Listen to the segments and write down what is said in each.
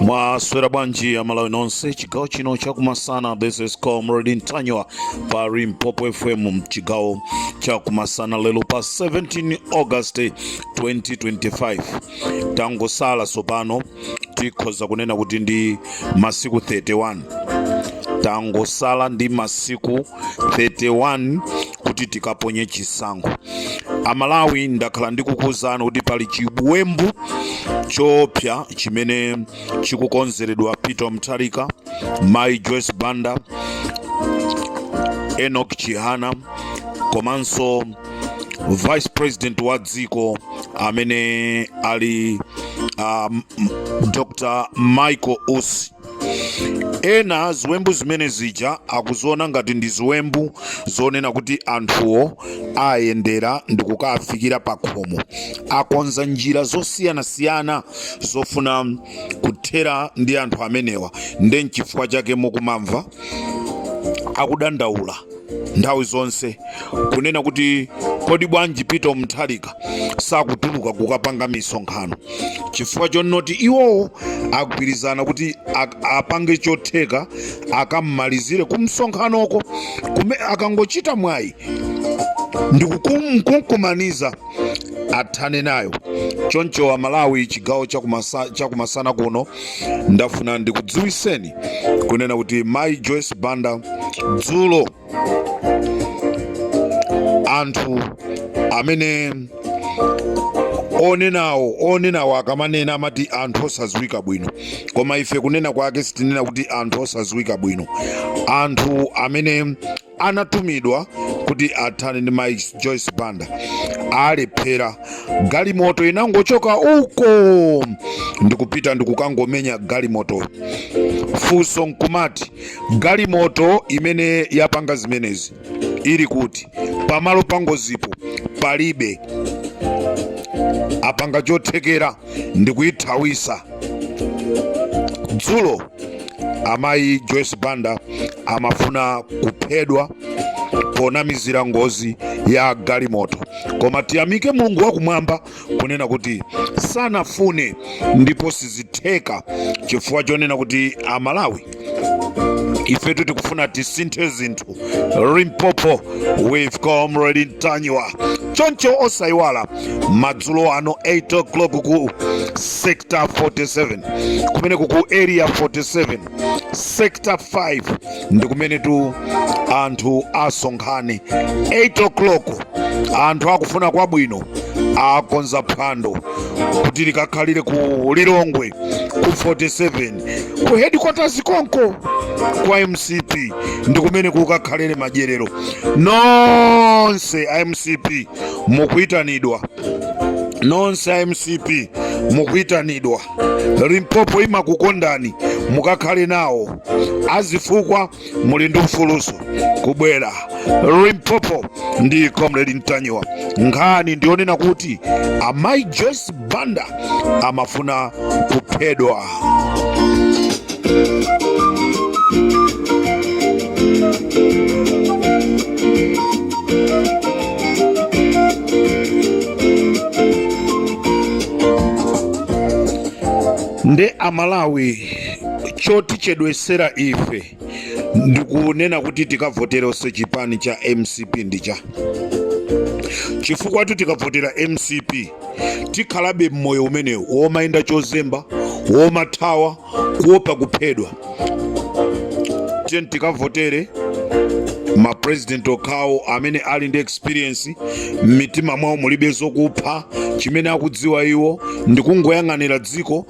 mwaswera bwanji amalawi nonse chigawo chino chakumasana this is comrade ntanyiwa pa limpopo fm mchigawo chakumasana lero pa 17 august 2025 tangosala sopano tikhoza kunena kuti ndi masiku 31 tangosala ndi masiku 31 kuti tikaponye chisankho amalawi ndakhala ndikukuwuzani kuti pali chiwembu choopsya chimene chikukonzeredwa peter mutharika mai joyce banda enoch chihana komanso vice president wa dziko amene ali um, dr michael usi ena ziwembu zimene zija akuziona ngati ndi ziwembu zonena kuti anthuwo ayendera ndi kukafikira pa khomo akonza njira zosiyanasiyana zofuna kuthera ndi anthu amenewa nde nchifukwa chake mukumamva akudandaula nthawi zonse kunena kuti kodi bwanji Peter Mutharika sakutuluka kukapanga misonkhano chifukwa chonoti iwowo agwirizana kuti ak- apange chotheka akammalizire kumsonkhanoko kumene akangochita mwayi ndikumkumaniza athane nayo choncho amalawi chigawo chakumasa- chakumasana kuno ndafuna ndikudziwiseni kunena kuti mai joyce banda dzulo anthu amene onenawo onenawo akamanena amati anthu osaziwika bwino koma ife kunena kwake sitinena kuti anthu osaziwika bwino anthu amene anatumidwa kuti athane ndi mai joyce banda alephera galimoto inangochoka uko ndikupita ndikukangomenya galimoto funso nkumati galimoto imene yapanga zimenezi ili kuti pamalo pangozipo palibe apanga chothekera ndikuyithawisa dzulo amayi joyce banda amafuna kuphedwa ponamizira ngozi ya galimoto koma tiyamike mulungu wakumwamba kunena kuti sanafune ndipo sizitheka chifukwa chonena kuti amalawi ifetu tikufuna tisinthe zinthu limpopo with comrade ntanyiwa choncho osayiwala madzulo ano 8 o'clock ku sector 47 kumeneku ku area 47 sector 5 ndi kumenetu anthu asonkhane 8 o'clock anthu akufuna kwabwino akonza phwando kuti likakhalire ku lilongwe ku 47 ku headquarters konko kwa mcp ndi kumene kukakhalire madyerero nonse a mcp mukuyitanidwa nonse a mcp mukuyitanidwa limpopo imakukondani mukakhale nawo azifukwa muli ndi ufuluso kubwera limpopo ndi comrade ntanyiwa nkhani ndiyonena kuti amayi joyce banda amafuna kuphedwa nde amalawi chotichedwesera ife ndikunena kuti tikavoteranso chipani cha mcp ndicha chifukwatu tikavotera mcp tikhalabe mmoyo umenewu womayenda chozemba womathawa kuopa kuphedwa tiyeni tikavotere ma president okhawo amene ali ndi experience m'mitima mwawo mulibe zokupha chimene akudziwa iwo ndikungoyang'anira dziko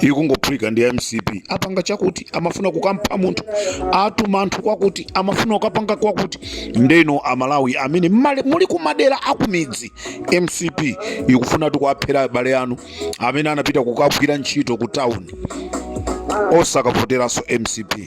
ikungophulika ndi mcp apanga chakuti amafuna kukampha munthu atuma anthu kwakuti amafuna kukapanga kwakuti ndeno amalawi amene muli kumadera akumidzi mcp ikufunatu kuaphera abale anu amene anapita kukagwira ntchito ku town osakavoteranso mcp